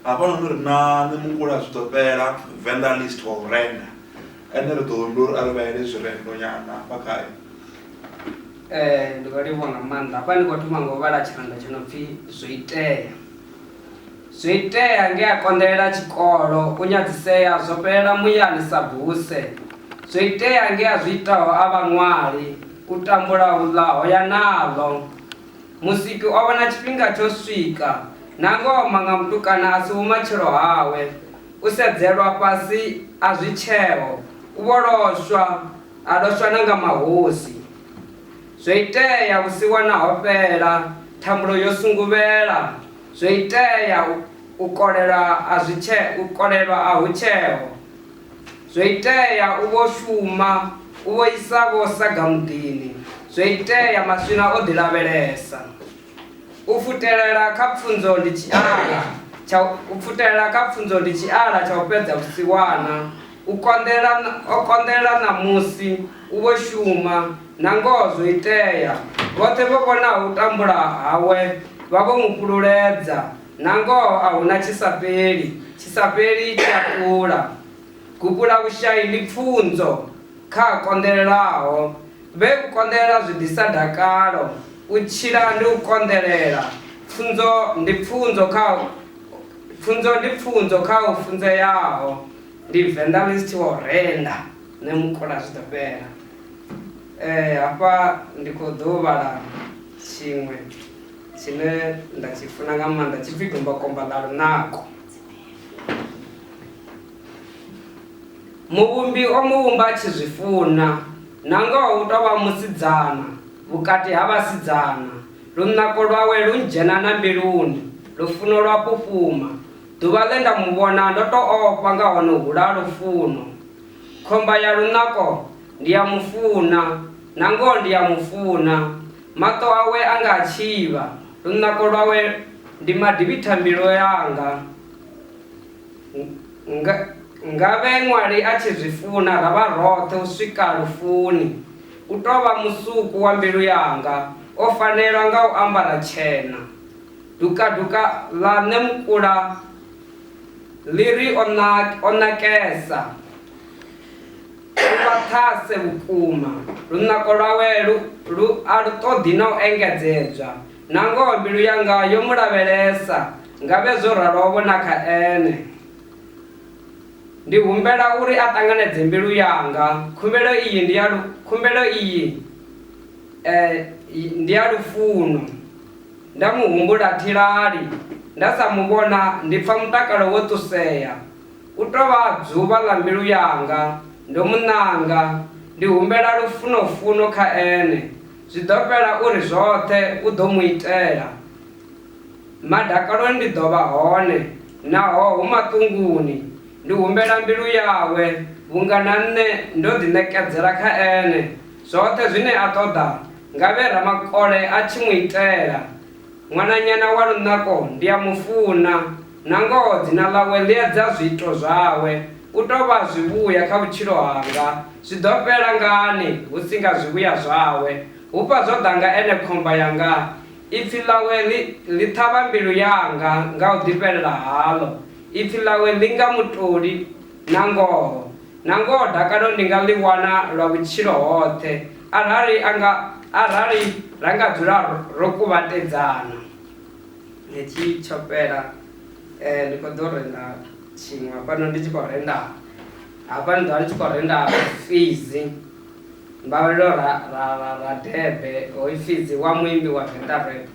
hafhanoni ri na nṋe mungula zwi ḓo fhela venḓa list wa u renda ene ri ḓo ndi uri a ri vhaele zwirendo nyana hafha khayo um ndi vha livhuwa nga maanḓa hafha ndi khou thoma nga u vhala tshirendo tsho no pfhi zwo itea Zwiitea nge a konḓelela tshikolo, u nyadzisea zwo fhelela muyani sa buse. Zwiitea nge a zwi itaho a vha ṅwali, u tambula hu ḽa ho ya naḽo. Musiki o vhona tshifhinga tsho swika, nangoho maṅa mutukana a si vhumatshelo hawe. U sedzelwa fhasi a zwi tsheo, u vho loswa, a loswa na nga mahosi. Zwo itea vhusiwana ho fhela, thambulo yo sunguvhela, zwo itea u, u kolelwa a zwi tshe, u kolelwa a hu tsheho. Zwo itea u vho shuma, u vho isa vho saga muḓini, zwo itea maswina o ḓi lavhelesa. U pfutelela kha pfunzo ndi tshiala tsha u pfutelela kha pfunzo ndi tshiala tsha u fhedza vhusiwana. U konḓela o konḓela ṋamusi u vho shuma, nangoho zwo itea. Vhoṱhe vho vhonaho u tambula hawe vha vho mu fhululedza, nangoho a hu na tshi sa fheli, tshi sa fheli tshi a fhula. Gupula vhushai ndi pfunzo kha a konḓelelaho, Vhe u konḓelela zwi ḓisa dakalo, u tshila ndi u konḓelela, pfunzo ndi pfunzo kha pfunzo ndi pfunzo kha u funzeaho, ndi Venḓa list wa u renda nṋe mukula zwi ḓo fhela. Eh hafha ndi kho ḓo vhala tshiṅwe tshine nda tshi funa nga maanḓa tshipfi Dombakomba ḽa lunako. Muvhumbi o mu vhumba a tshi zwi funa, nangoho u tou vha musidzana vhukati ha vhasidzana. Lunako lwawe lu ndzhena na mbiluni, lufuno lwa pupuma. Ḓuvha ḽe nda mu vhona ndo tou ofha nga hono hula ha lufuno. Khomba ya lunako, Ndi a mu funa, nangoho ndi a mu funa. Maṱo awe a nga a tshivha, lunako lwawe ndi madivhithambilu anga. nga, nga vhe ṅwali a tshi zwi funa ra vha roṱhe u swika lufuni. U tou vha musuku wa mbilu yanga, o fanelwa nga u ambara tshena. Dukaduka ḽa Nṋe Mukula ḽi ri o, na, o nakesa, lu vhaṱhase vhukuma, lunako lwawe lu, lu, a lu ṱoḓi na u engedzedzwa. Nangoho mbilu yanga yo mu lavhelesa Ngavhe zwo ralo-vho na kha ene. Ndi humbela uri a ṱanganedze mbilu yanga. Khumbelo iyi ndi ya lu, khumbelo iyi eh, ndi ya lufuno. Nda mu humbula thilali, nda sa mu vhona ndi pfa mutakalo wo ṱusea. U tou vha dzuvha ḽa mbilu yanga. Ndo mu ṋanga. Ndi humbela lufuno-funo kha ene. Zwi ḓo fhela uri zwoṱhe u ḓo mu itela. Madakaloni ndi ḓo vha hone, naho hu maṱunguni, ndi humbela mbilu yawe, vhunga na nṋe ndo ḓiṋekedzela kha ene. Zwoṱhe zwine a ṱoḓa, ngavhe ramakole a tshi mu itela. Ṅwananyana wa lunako ndi a mu funa, nangoho dzina ḽawe ḽi edza zwiito zwawe. U tou vha zwivhuya kha vhutshilo hanga, zwi ḓo fhela ngani hu si nga zwivhuya zwawe? Hufha zwo ḓa nga ene khomba yanga Ipfi ḽawe ḽi, ḽi ṱhavha mbilu yanga nga u ḓifhelela haḽo, ipfi ḽawe ḽi nga mutoli. Nangoho, nangoho dakalo ndi nga ḽi wana lwa vhutshilo hoṱhe, arali a nga, arali ra nga dzula ro, ro kuvhatedzana. Hetshi tsho fhela. E, ndi khou ḓo renda tshiṅwe hafhano, ndi tshi khou renda hafha nḓuni, ndi tshi khou renda Fizzy. Mbalelwa Radebe, hoyu Fidzi wa muimbi wa Venḓa Rap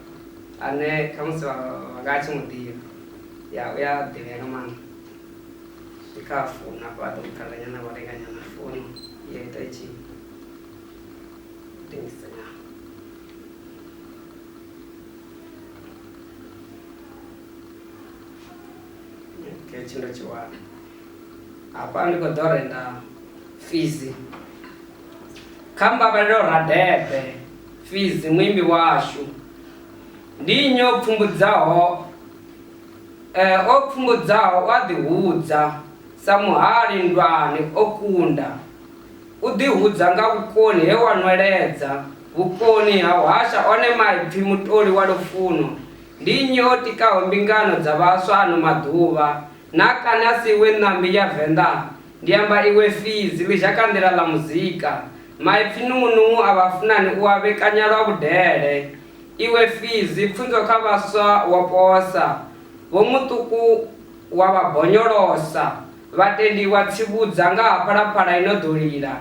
ane khamusi vha nga a tshi mu ḓivha. Ya, u ya ḓivhea nga maanḓa. Ndi kha founu hafha vha ḓo mu ṱalela nyana vho renga nyana founu ya ita i tshi dingisa nyana. Okay, tshi ndo tshi wana. Hafha ndi khou ḓo renda fizi kha Mbavhalelo Radebe Fizi muimbi washu. Ndi nnyi o pfumbudzaho eh, o pfumbudzaho u a ḓihudza sa muhali nndwani o kunda u ḓihudza nga vhukoni he wa nweledza vhukoni ha u hasha one maipfi mutoli wa lufuno ndi nnyi o tikaho mbingano dza vhaswa ano maḓuvha Na kani a si iwe ṋambi ya Venḓa? Ndi amba iwe fidzi, ḽizhakanḓila ḽa muzika. Maipfi nungunungu a vhafunani u a vhekanya lwa vhudele. Iwe fidzi, pfunzo kha vhaswa wo posa. Vho Muṱuku wa vha bonyolosa. Vhatendi wa tsivhudza nga ha Phalaphala i no ḓo lila.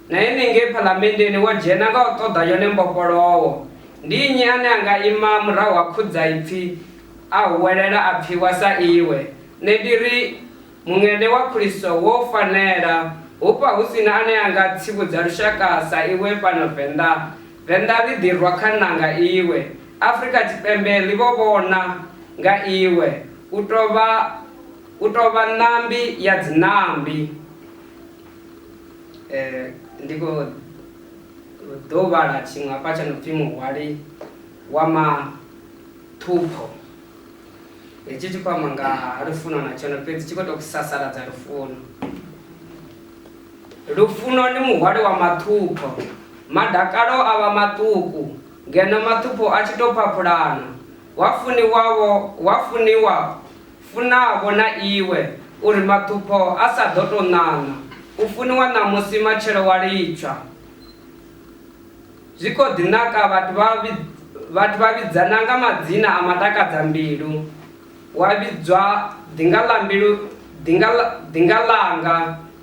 Na henengei Phalamenndeni wo dzhena nga u ṱoḓa yone mbofholowo. Ndi nnyi ane a nga ima murahu ha khudzaipfi A huwelela a pfiwa sa iwe. Nṋe ndi ri, Muṅene wa Khristo, wo fanela. Hufha hu si na ane a nga tsivhudza lushaka sa iwe fhano Venḓa. Venḓa ḽi ḓi rwa khanḓa nga iwe. Afrika Tshipembe ḽi vho vhona nga iwe. U tou vha, u tou vha ṋambi ya dziṋambi. E, ndi khou ḓo vhala tshiṅwe hafha tsho no pfi Muhwali wa ma. Ṱhupho. Hetshi tshi khou amba nga ha lufuno na tshone fhedzi tshi khou tou sasaladza lufuno. Lufuno ndi muhwali wa maṱhupho. Madakalo a vha maṱuku, ngeno maṱhupho a tshi tou phaphulana. Wa funiwavho, wa funiwa, funavho na iwe, u ri maṱhupho a sa ḓo tou ṋaṋa. U funiwa ṋamusi, matshelo wa litshwa. Zwi khou ḓi naka vhathu vha vhathu vha vhidzana nga madzina a matakadza mbilu, wa vhidzwa ḓinga ḽa mbilu ḓinga ḽa ḓinga ḽanga,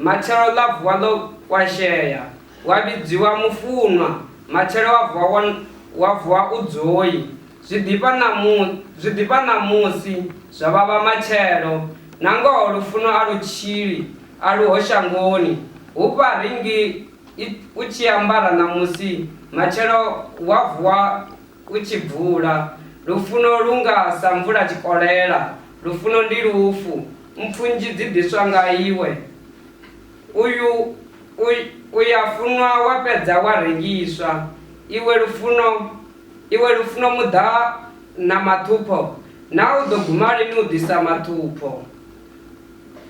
matshelo ḽa vuwa ḽo kwashea, wa vhidziwa mufunwa, matshelo wa vuwa wa wa vuwa u dzoi, zwi ḓifha ṋamu zwi ḓifha ṋamusi zwa vhavha matshelo, nangoho lufuno a lu tshili a luho shangoni, hufha ri ngi. I, u tshi ambara ṋamusi, matshelo wa vuwa u tshi bvula. Lufuno lu nga sa mvula tshikolela, lufuno ndi lufu, mpfu nnzhi dzi ḓiswa nga iwe. Uyu u, u ya funwa wa fhedza wa rengiswa. Iwe lufuno, iwe lufuno muḓa na maṱhupho, naa u ḓo guma lini u ḓisa maṱhupho?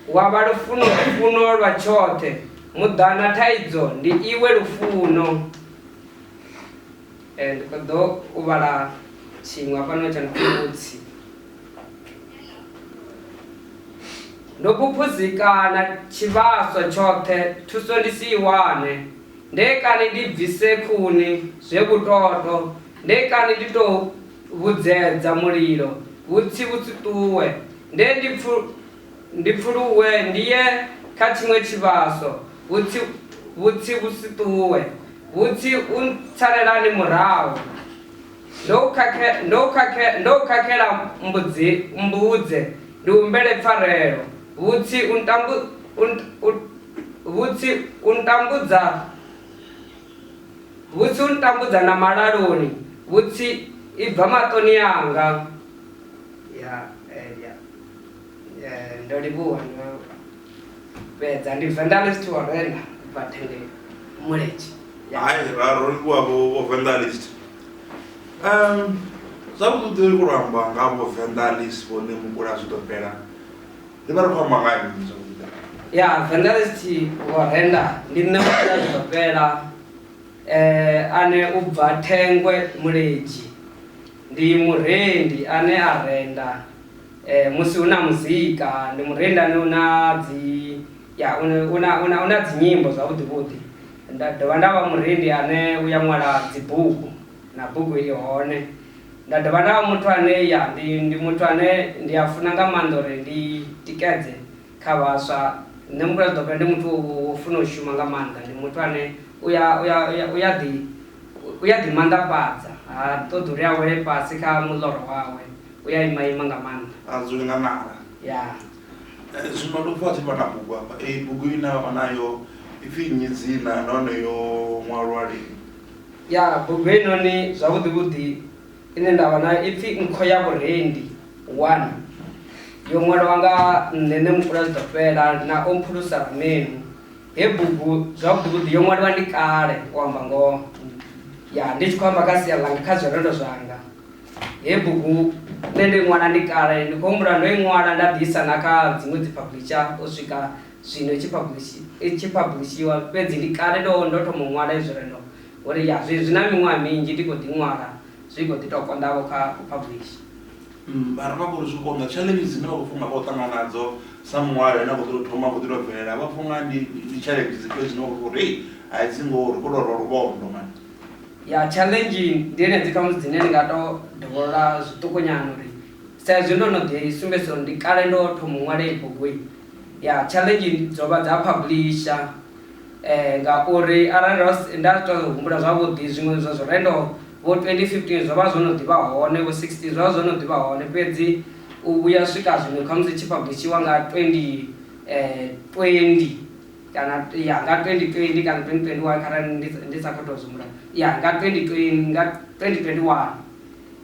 Wa vha lufuno, lufuno lwa tshoṱhe. Muḓana, thaidzo ndi iwe lufuno. Eh, ndi khou ḓo u vhala tshiṅwe hafhanoni tsha nkhumutsi. Ndo phuphuzikana tshivhaswa tshoṱhe, thuso ndi si i wane. Nde kani ndi bvise khuni, zwe vhutoto, nde kani ndi tou vhudzedza mulilo vhutsi vhutsi ṱuwe, nde ndi pfu, ndi pfuluwe ndi ye kha tshiṅwe tshivhaso vhutsi vhutsi vhutsi ṱuwe, vhutsi u ntsalelani murahu, ndo u khakhe, ndo u khakhe, ndo u khakhela mbudzi, mmbudze ndi humbele pfarelo, vhutsi u ntambu, u, u, vhutsi u ntambudza. Vhutsi u ntambudza na malaloni, vhutsi i bva maṱoni anga. Ya, eh, ya, eh, ndo livhuwa, ndo fhedza. Ndi Venḓa ḽi tshi thi wa renda, u bva thenge mulenzhe. Ya. Hai, ra ro livhuwa vho vho Venḓa ḽi tshi Um, zwavhuḓi ri khou lwa amba nga vho Venḓa ḽi si vhone mukula zwi ḓo fhela. Ndi vha ri khou amba nga ha mini zwa vhuḓi? Ya, Venderesthi vho renda ndi nṋe Musina Zwitopela ane u bva Thengwe Muledzi. Ndi murendi ane a renda musi hu na muzika, ndi murendi ane u na dzi, ya u na, u na, u na, u na dzi nyimbo zwavhuḓi vhuḓi. Nda dovha nda vha murendi ane u ya ṅwala dzi bugu. na bugu i hone nda dovha nda vha muthu ane ya ndi, ndi muthu ane ndi a funa nga maanḓa uri ndi tikedze kha vhaswa nṋe mukula ḓope ndi muthu wo funa u shuma nga maanḓa ndi muthu ane u ya u ya u ya ḓi u ya ḓi manḓafhadza ha ṱoḓi uri a wele fhasi kha muḽoro wawe u ya ima ima nga maanḓa a dzule nga nala ya eh, zwino ndo pfha tshi vha na bugu hafha eyi bugu ine vha nayo ipfhi nnyi dzina nahone yo ṅwalwa lini Ya, bugu heinoni zwavhuḓi-vhuḓi ine nda vha nayo i pfi Nkho ya Vhurendi 1. Yo ṅwalwa nga nṋe nṋe Mupfulazwiḓofhela na Omphulusa Ramenu. Hei bugu zwavhuḓi-vhuḓi yo ṅwaliwa ndi kale, u amba ngoho. Ya, ndi tshi khou amba kha sia ḽanga, kha zwirendo zwanga. Hei bugu nṋe ndo i ṅwala ndi kale, ndi khou humbula ndo i ṅwala nda ḓi isa na kha dziṅwe dziphaphuḽitsha u swika Zwino tshi publishi, i tshi phablishiwa, fhedzi ndi kale ndo, ndo thoma u ṅwala izwi re, ndo, ndo ri, Ya, zwi, zwi na miṅwaha minzhi ndi khou ḓi ṅwala, zwi khou ḓi tou konḓa-vho kha u phablisha. Umm, vha ramba vho ri zwi konḓa. Tshaḽenzhi dzine vha khou pfa u nga vha khou ṱangana nadzo sa muṅwali ane a khou ḓi tou thoma, a khou ḓi tou bvelela, vha pfa u nga ndi, ndi tshaḽenzhi dzifhio dzine vha khou pfa uri, Hei, a dzi ngoho, ri khou tou rwa luvhondo, man. Ya, tshaḽenzhi ndi henedzi khamusi dzine ndi nga tou dovholola zwiṱukunyana uri, Sa izwi ndo no ḓi sumbedzisa uri ndi kale ndo thoma u ṅwala heyi bugu-i, ya challenge dzo vha dza publisher eh ngauri arali ro nda to humbula zwavhuḓi zwiṅwe zwa zwirendo vho 2015 zwo vha zwo no ḓivha hone vho 16 zwo vha zwo no ḓivha hone fhedzi u vhuya swika zwino khamusi tshi publishiwa nga 20 eh 20 kana ya nga 2020 kana 2021 kharali ndi sa khou tou zwimbula ya nga 2020 nga 2021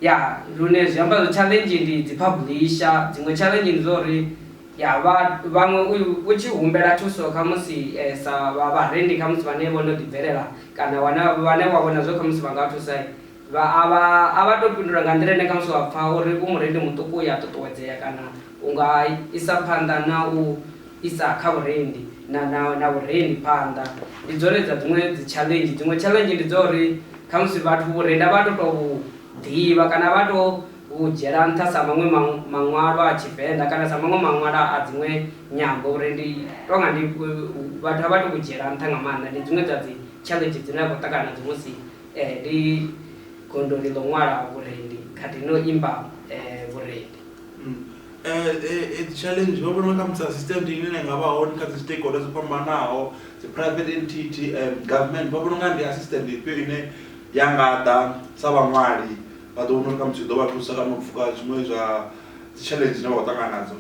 ya lune zwi amba zwo challenge ndi dzi publisher dziṅwe challenge ndi zwa uri Ya vha, vhaṅwe u, u tshi humbela thuso khamusi e, sa vha vharendi khamusi vhane vho no ḓibvelela kana wana, vhane wa vhona zwo khamusi vha nga thusa, vha, a vha, a vha tou fhindula nga nḓila ine khamusi wa pfa uri u murendi muṱuku u ya ṱuṱuwedzea kana u nga isa phanḓa na u isa kha vhurendi, na, na, na vhurendi phanḓa. Ndi dzone dza dziṅwe dzi tshaḽenzhi. Dziṅwe tshaḽenzhi ndi dza uri khamusi vhathu vhurendi a vha tu tou vhu ḓivha kana a vha tu u dzhiela nṱha sa maṅwe maṅwalwa a Tshivenḓa kana sa maṅwe maṅwalwa a dziṅwe nyambo uri ndi tou nga ndi vhathu a vha tou vhu dzhiela nṱha nga maanḓa. Ndi dziṅwe dza dzi tshaḽenzhi dzine a khou ṱangana nadzo musi ndi gondoni ḽo ṅwala vhurendi khathihi no imba vhurendi. Dzi tshaḽenzhi vho vhona khamusi a si sitendi ine na nga vha hone kha dzi stakeholder dzo fhambanaho dzi private entity government vha vhona u nga ndi a si sitendi ifhio ine ya nga ḓa sa vhaṅwali. Vha ḓo vhona uri khamusi zwi ḓo vha thusa kana u pfuka zwiṅwe zwa dzitshaḽenzhi dzine vha khou ṱangana nadzo.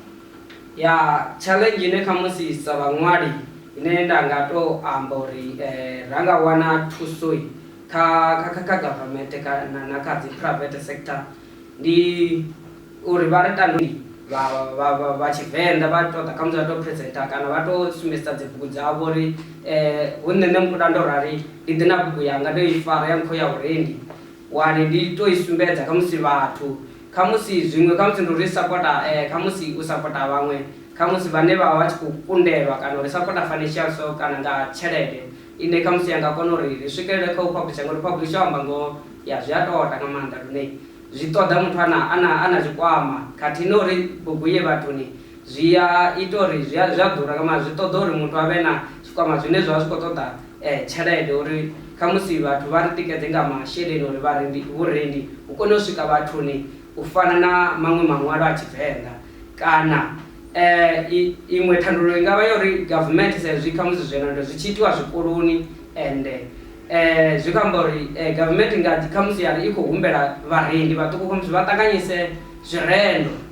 Ya, tshaḽenzhi ine khamusi sa vhaṅwali ine nda nga tou amba uri ra nga wana thuso kha government kana na kha dzi private sector ndi uri vha ri tandulule vha Tshivenḓa vha tou ḓa khamusi vha tou presenter kana vha tou sumbedzisa dzi bugu dzavho uri hu nṋe Ṋemkhuda ndo rali ndi ḓe na bugu yanga ndo i fara ya nkhou ya Vhurendi. Wani ndi to i sumbedza khamusi vhathu, khamusi zwiṅwe, khamusi ndi uri sapota, eh, khamusi u sapota vhaṅwe, khamusi vhane vha vha vha tshi khou kundelwa, kana uri sapota financial so, kana nga tshelede ine khamusi ya nga kona uri ri swikelele kha u phabulisha, ngauri phabulisha u amba ngoho, ya zwi a toda nga maanḓa lune zwi ṱoḓa muthu a na, a na, a na tshikwama khathihi na uri bugu i ye vhathuni zwi a ita uri zwi a, zwi a ḓura nga maanḓa, zwi ṱoḓa uri muthu a vhe na tshikwama zwine zwa vha zwi khou ṱoḓa tshelede uri khamusi vhathu vha ri tikedze nga masheleni uri vharendi vhurendi vhu kone u swika vhathuni u fana na maṅwe maṅwalo a Tshivenḓa kana i iṅwe thandululo i ngavha ya uri government sa izwi khamusi zwenezwo zwi tshi itiwa zwikoloni ende zwi khou amba uri government i nga ḓi khamusi ya ri i khou humbela vharendi vhaṱuku khamusi vha ṱanganyise zwirendo.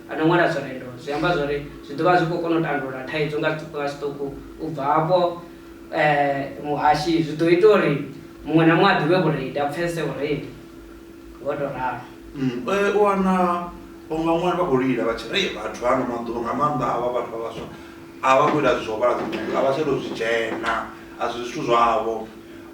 A no ṅwala zwenezwo, zwi amba zwa uri zwi ḓo vha zwi khou kona u tandulula thaidzo nga zwiṱuku nga zwiṱuku. U bva hafho, muhashi zwi ḓo ita uri muṅwe na muṅwe a ḓivhe vhurendi, a pfesese vhurendi ho tou ralo. U wana vhaṅwe vhaṅwali vha khou lila vha tshi ri, Hei vhathu ha ano maḓuvha, nga maanḓa havha vhathu vha vhaswa, a vha khou ita zwithu zwa u vhala dzibugu, a vha tsha tou zwi dzhena, a si zwithu zwavho.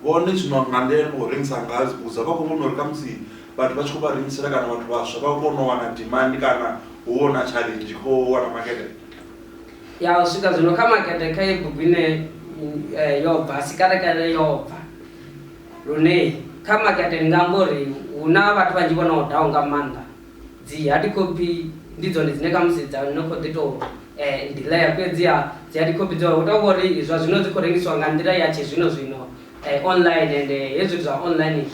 Vhone zwino nga nḓila ine vha khou rengisa ngayo dzibugu dzavho, vha khou vhona uri khamusi. vhathu vha tshi khou vha rengisela kana vhathu vhaswa vha kone u wana demand kana hu vho na challenge tshi khou wana makete? Ya, u swika zwino kha makete kha iyi bugu ine eh, yo bva sikalekale yo bva lune kha makete ndi nga amba uri hu na vhathu vhanzhi vho no daho nga maanḓa dzi hard copy ndi dzone dzine kha musi dza no khou ḓi tou eh, delaya fhedziha dzi hard copy dzo hu tou vha uri zwa zwino dzi khou rengisiwa nga nḓila ya tshizwino zwino eh, online ende hezwi zwithu zwa online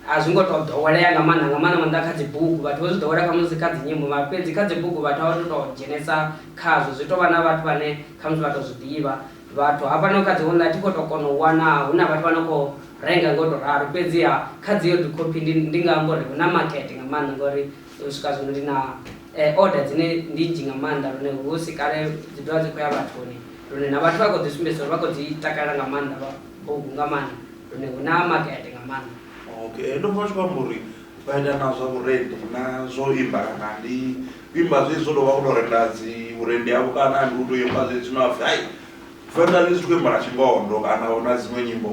A zwi ngo tou ḓowelea nga maanḓa, nga maanḓa maanḓa kha dzibugu. Vhathu vho zwi ḓowela khamusi kha dzinyimbo, mara fhedzi kha dzibugu vhathu a vha tu tou dzhenesa khazwo. Zwi tou vha na vhathu vhane khamusi vha tou zwi ḓivha. Vhathu hafhano kha dzi online thi khou tou kona u wana hu na vhathu vha no khou renga nga u tou ralo. Fhedziha kha dzi hard copy ndi ndi nga amba uri hu na makete nga maanḓa ngori u swika zwino ndi na order dzine ndi nnzhi nga maanḓa lune hu si kale dzi ḓo vha dzi khou ya vhathuni lune na vhathu vha khou ḓi sumbedzisa uri vha khou dzi takalela nga maanḓa. o nga maanḓa lune hu na makete nga maanḓa okay ndo pfa tshi khou amba uri vha ita na zwa vhurendi na zwo imba kana ndi imba zwe zwo tou vha kuto renda dzi vhurendi havho kana ndi u tou imba zwe zwino apfi hai venḓa zwi tshi khou imba na tshingondo kana hu na dziṅwe nyimbo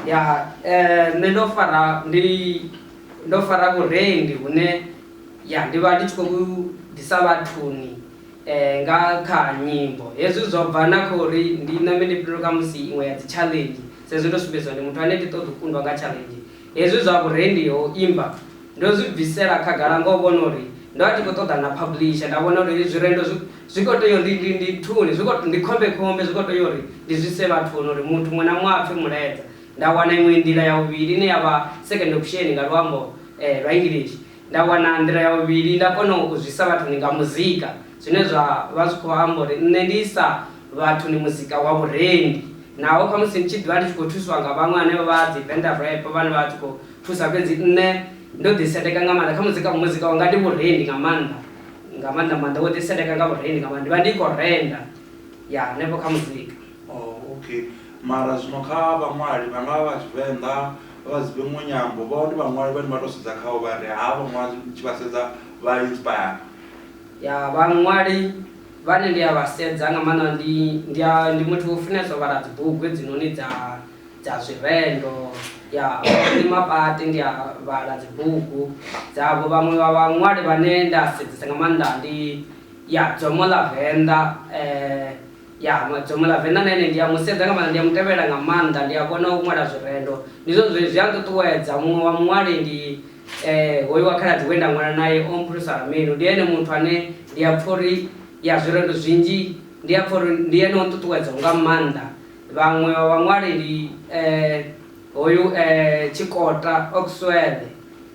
ya um nṋe ndo fara ndi ndo fara vhurendi hune ya ndi vha ndi tshi khou ḓisa vhathuni Nga kha nyimbo, hezwi zwo bva na kha uri ndi na mini. Ndi fhindule kha musi iṅwe ya dzitshaḽenzhi, sa izwi ndo sumbedziwa ndi muthu ane thi ṱoḓi u kundwa nga tshaḽenzhi. Hezwi zwa vhurendi ha u imba ndo zwi bvisela khagala nga u vhona uri ndo vha ndi khou ṱoḓana na phablisha. Nda vhona uri heyi zwirendo zwi zwi khou tea uri ndi ndi thuni, zwi khou ndi khombekhombe, zwi khou tea uri ndi zwi ise vhathuni uri muthu muṅwe na muṅwe a pfe mulaedza. Nda wana iṅwe nḓila ya vhuvhili ine ya vha second option nga luambo lwa English. Nda wana nḓila ya vhuvhili, nda kona u zwisa vhathuni nga muzika, zwine zwa vha zwi khou amba uri nṋe ndi isa vhathuni muzika wa vhurendi. Naho khamusi ndi tshi ḓivha ndi tshi khou thuswa nga vhaṅwe hanevha vha dzi Venda Rap vhane vha tshi khou thusa, fhedzi nṋe ndo ḓiseteka nga maanḓa kha muzika. Muzika wanga ndi vhurendi nga maanḓa, nga maanḓa maanḓa wo ḓiseteka nga vhurendi nga maanḓa. Ndi vha ndi khou renda ya hanefho kha muzika. Oh okay, mara zwino kha vhaṅwali vha nga vha vha Tshivenḓa. vha vha si vhe muṅwe nyambo vha hone vhaṅwali vhane vha tou sedza khaho vha ri havha ṅwali ndi tshi vha sedza vha inspire ya vhaṅwali vhane ndi a vha sedza nga maanḓa ndi ndi a ndi muthu wo funesa u vhala dzibugu hedzinoni dza dza zwirendo ya ndi mapati ndi a vhala dzibugu dzavho vhaṅwe vha vhaṅwali vhane nda sedzesa nga maanḓa ndi ya dzomo ḽa venḓa um Ya, Madzumu ḽa Venḓa na ene ndi a mu sedza nga maanḓa, ndi a mu tevhelela nga maanḓa, ndi a kona u ṅwala zwirendo. Ndi zwone zwe zwi a nṱuṱuwedza. Muṅwe wa muṅwali ndi hoyu wa khaladzi we nda ṅwala nae, Omphuhliso Ramenu. Ndi ene muthu ane ndi a pfa uri, ya, zwirendo zwinzhi ndi a pfa uri ndi ene o nṱuṱuwedzaho nga maanḓa. Vhaṅwe vha vhaṅwali ndi hoyu Tshikota Oxwell,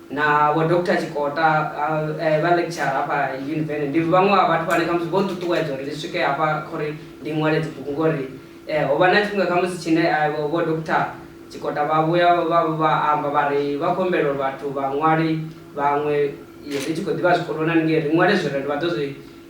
na vho Doctor Tshikota vha lecture hafha yunivene ndi vhaṅwe vha vhathu vhane khamusi vho nṱuṱuwedza uri ndi swike hafha kha uri ndi ṅwale dzibugu ngori ho vha na tshifhinga khamusi tshine vho Doctor Tshikota vha vhuya vha amba vha ri vha khou humbela uri vhathu vhaṅwali vhaṅwe ri tshi khou ḓivha zwikoloni haningei ri ṅwale zwirendo vha ḓo zwi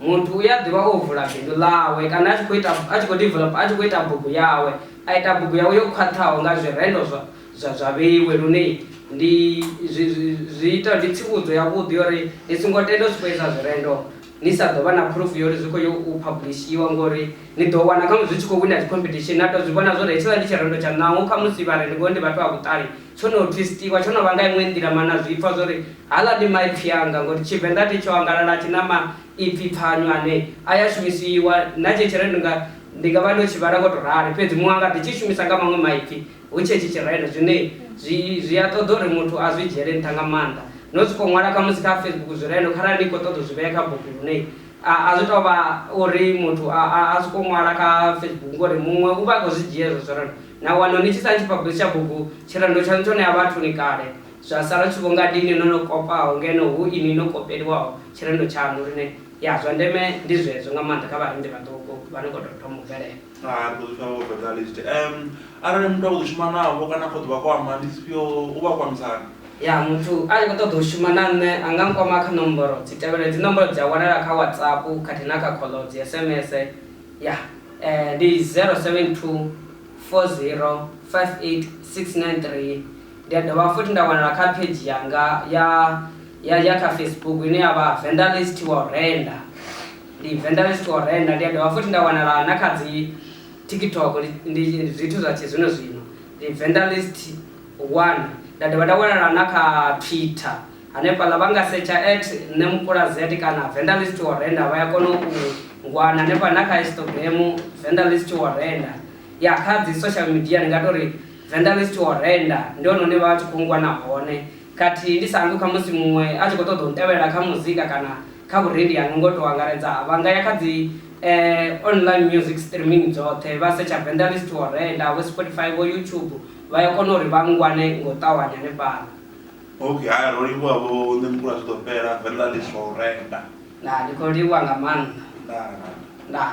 Muthu u ya ḓivha o vula bindu ḽawe kana a tshi khou ita, a tshi khou developer, a tshi khou ita bugu yawe, a ita bugu yawe yo khwaṱhaho nga zwirendo zwa, zwa, zwa vheiwe. Lune ndi, zwi, zwi, zwi ita, ndi tsivhudzo yavhuḓi ya uri ni songo tenda u sokou ita zwirendo ni sa ḓo vha na phurufu ya uri zwi khou yo u phablishiwa, ngori ni ḓo wana khamusi zwi tshi khou wina dzi competition na tou zwi vhona zwa uri hetshiḽa ndi tshirendo tshaṋu, naho khamusi vha re ni vhone ndi vhathu vha vhuṱali. Tsho no twisthiwa, tsho no vha nga iṅwe nḓila mana zwi pfa zwo ri haḽa ndi maipfi anga ngori Tshivenḓa thi tsho angalala tshi na maipfi pfanywa ane a ya shumisiwa na tshetsho rendo nga ndi nga vha ndo tshi vhala ngo to rali fhedzi muṅwe anga ḓi tshi shumisa nga maṅwe maipfi hu tshe tshi tshirendo zwine zwi zwi a ṱoḓa uri muthu a zwi dzhiele nṱha nga maanḓa no soko ṅwala kha musi kha Facebook zwirendo kharali ni kho ṱoḓa u zwi vhea kha bugu lune a zwi tou vha uri muthu a a soko ṅwala kha Facebook ngori muṅwe u vha a khou zwi dzhia hezwo zwirendo Na wana ni tshi sa tshiphabusi tsha bugu, tshirendo tshaṋu tsho ṋea vhathuni kale, zwa sala zwi tshi vho nga dini ḽo no kopaho ngeno hu inwi no kopeliwaho tshirendo tshaṋu lune, ya, zwa ndeme ndi zwezwo nga maanḓa kha vharendi vhaṱuku vha no khou tou thoma u bvelela. Hai, ri ḓo zwi fara vho Fatalist. Um, arali muthu a khou ḓo shuma navho kana a khou ḓo vha kwama, ndi dzifhio, u vha kwamisa hani? Ya, muthu a tshi khou ṱoḓa u shuma na nṋe a nga nkwama kha nomboro dzi tevhelaho, hedzi nomboro dzi a wanala kha WhatsApp khathihi na kha khoḽo, dzi SMS. Yah eh ndi 0724058693 ndi a dovha futhi nda wanala kha page yanga ya ya ya kha Facebook ine ya vha Vendalist wa u renda ndi Vendalist wa u renda ndi a dovha futhi nda wanala na kha dzi TikTok ndi zwithu zwa tshi zwino zwino ndi Vendalist 1 nda dovha nda wanala na kha Twitter Hanefhaḽa vha nga setsha at Nṋe Mupula Z kana Venda List Wo Renda vha ya kona u ngwana hanefha na kha Instagram Venda List Wo Renda. Ya kha dzi social media ndi nga tou ri Venda List Wo Renda ndi hone hune vha vha tshi khou ngwana hone. Khathihi ndi sa hangwi khamusi muṅwe a tshi khou ṱoḓa u ntevhelela kha muzika kana kha vhurendi hanga ngo tou angaredza vha nga ya kha dzi online music streaming dzoṱhe vha setsha Venda List Wo Renda vho Spotify vho YouTube vha ya kona uri vha ngwane nga u ṱavhanya hanefhaḽa. Ok, haya ro livhuwa vho nṋe mukula zwi ḓo fhela venḓa ḽi surrender. Ndaa ndi khou livhuwa nga maanḓa. Ndaa. Ndaa.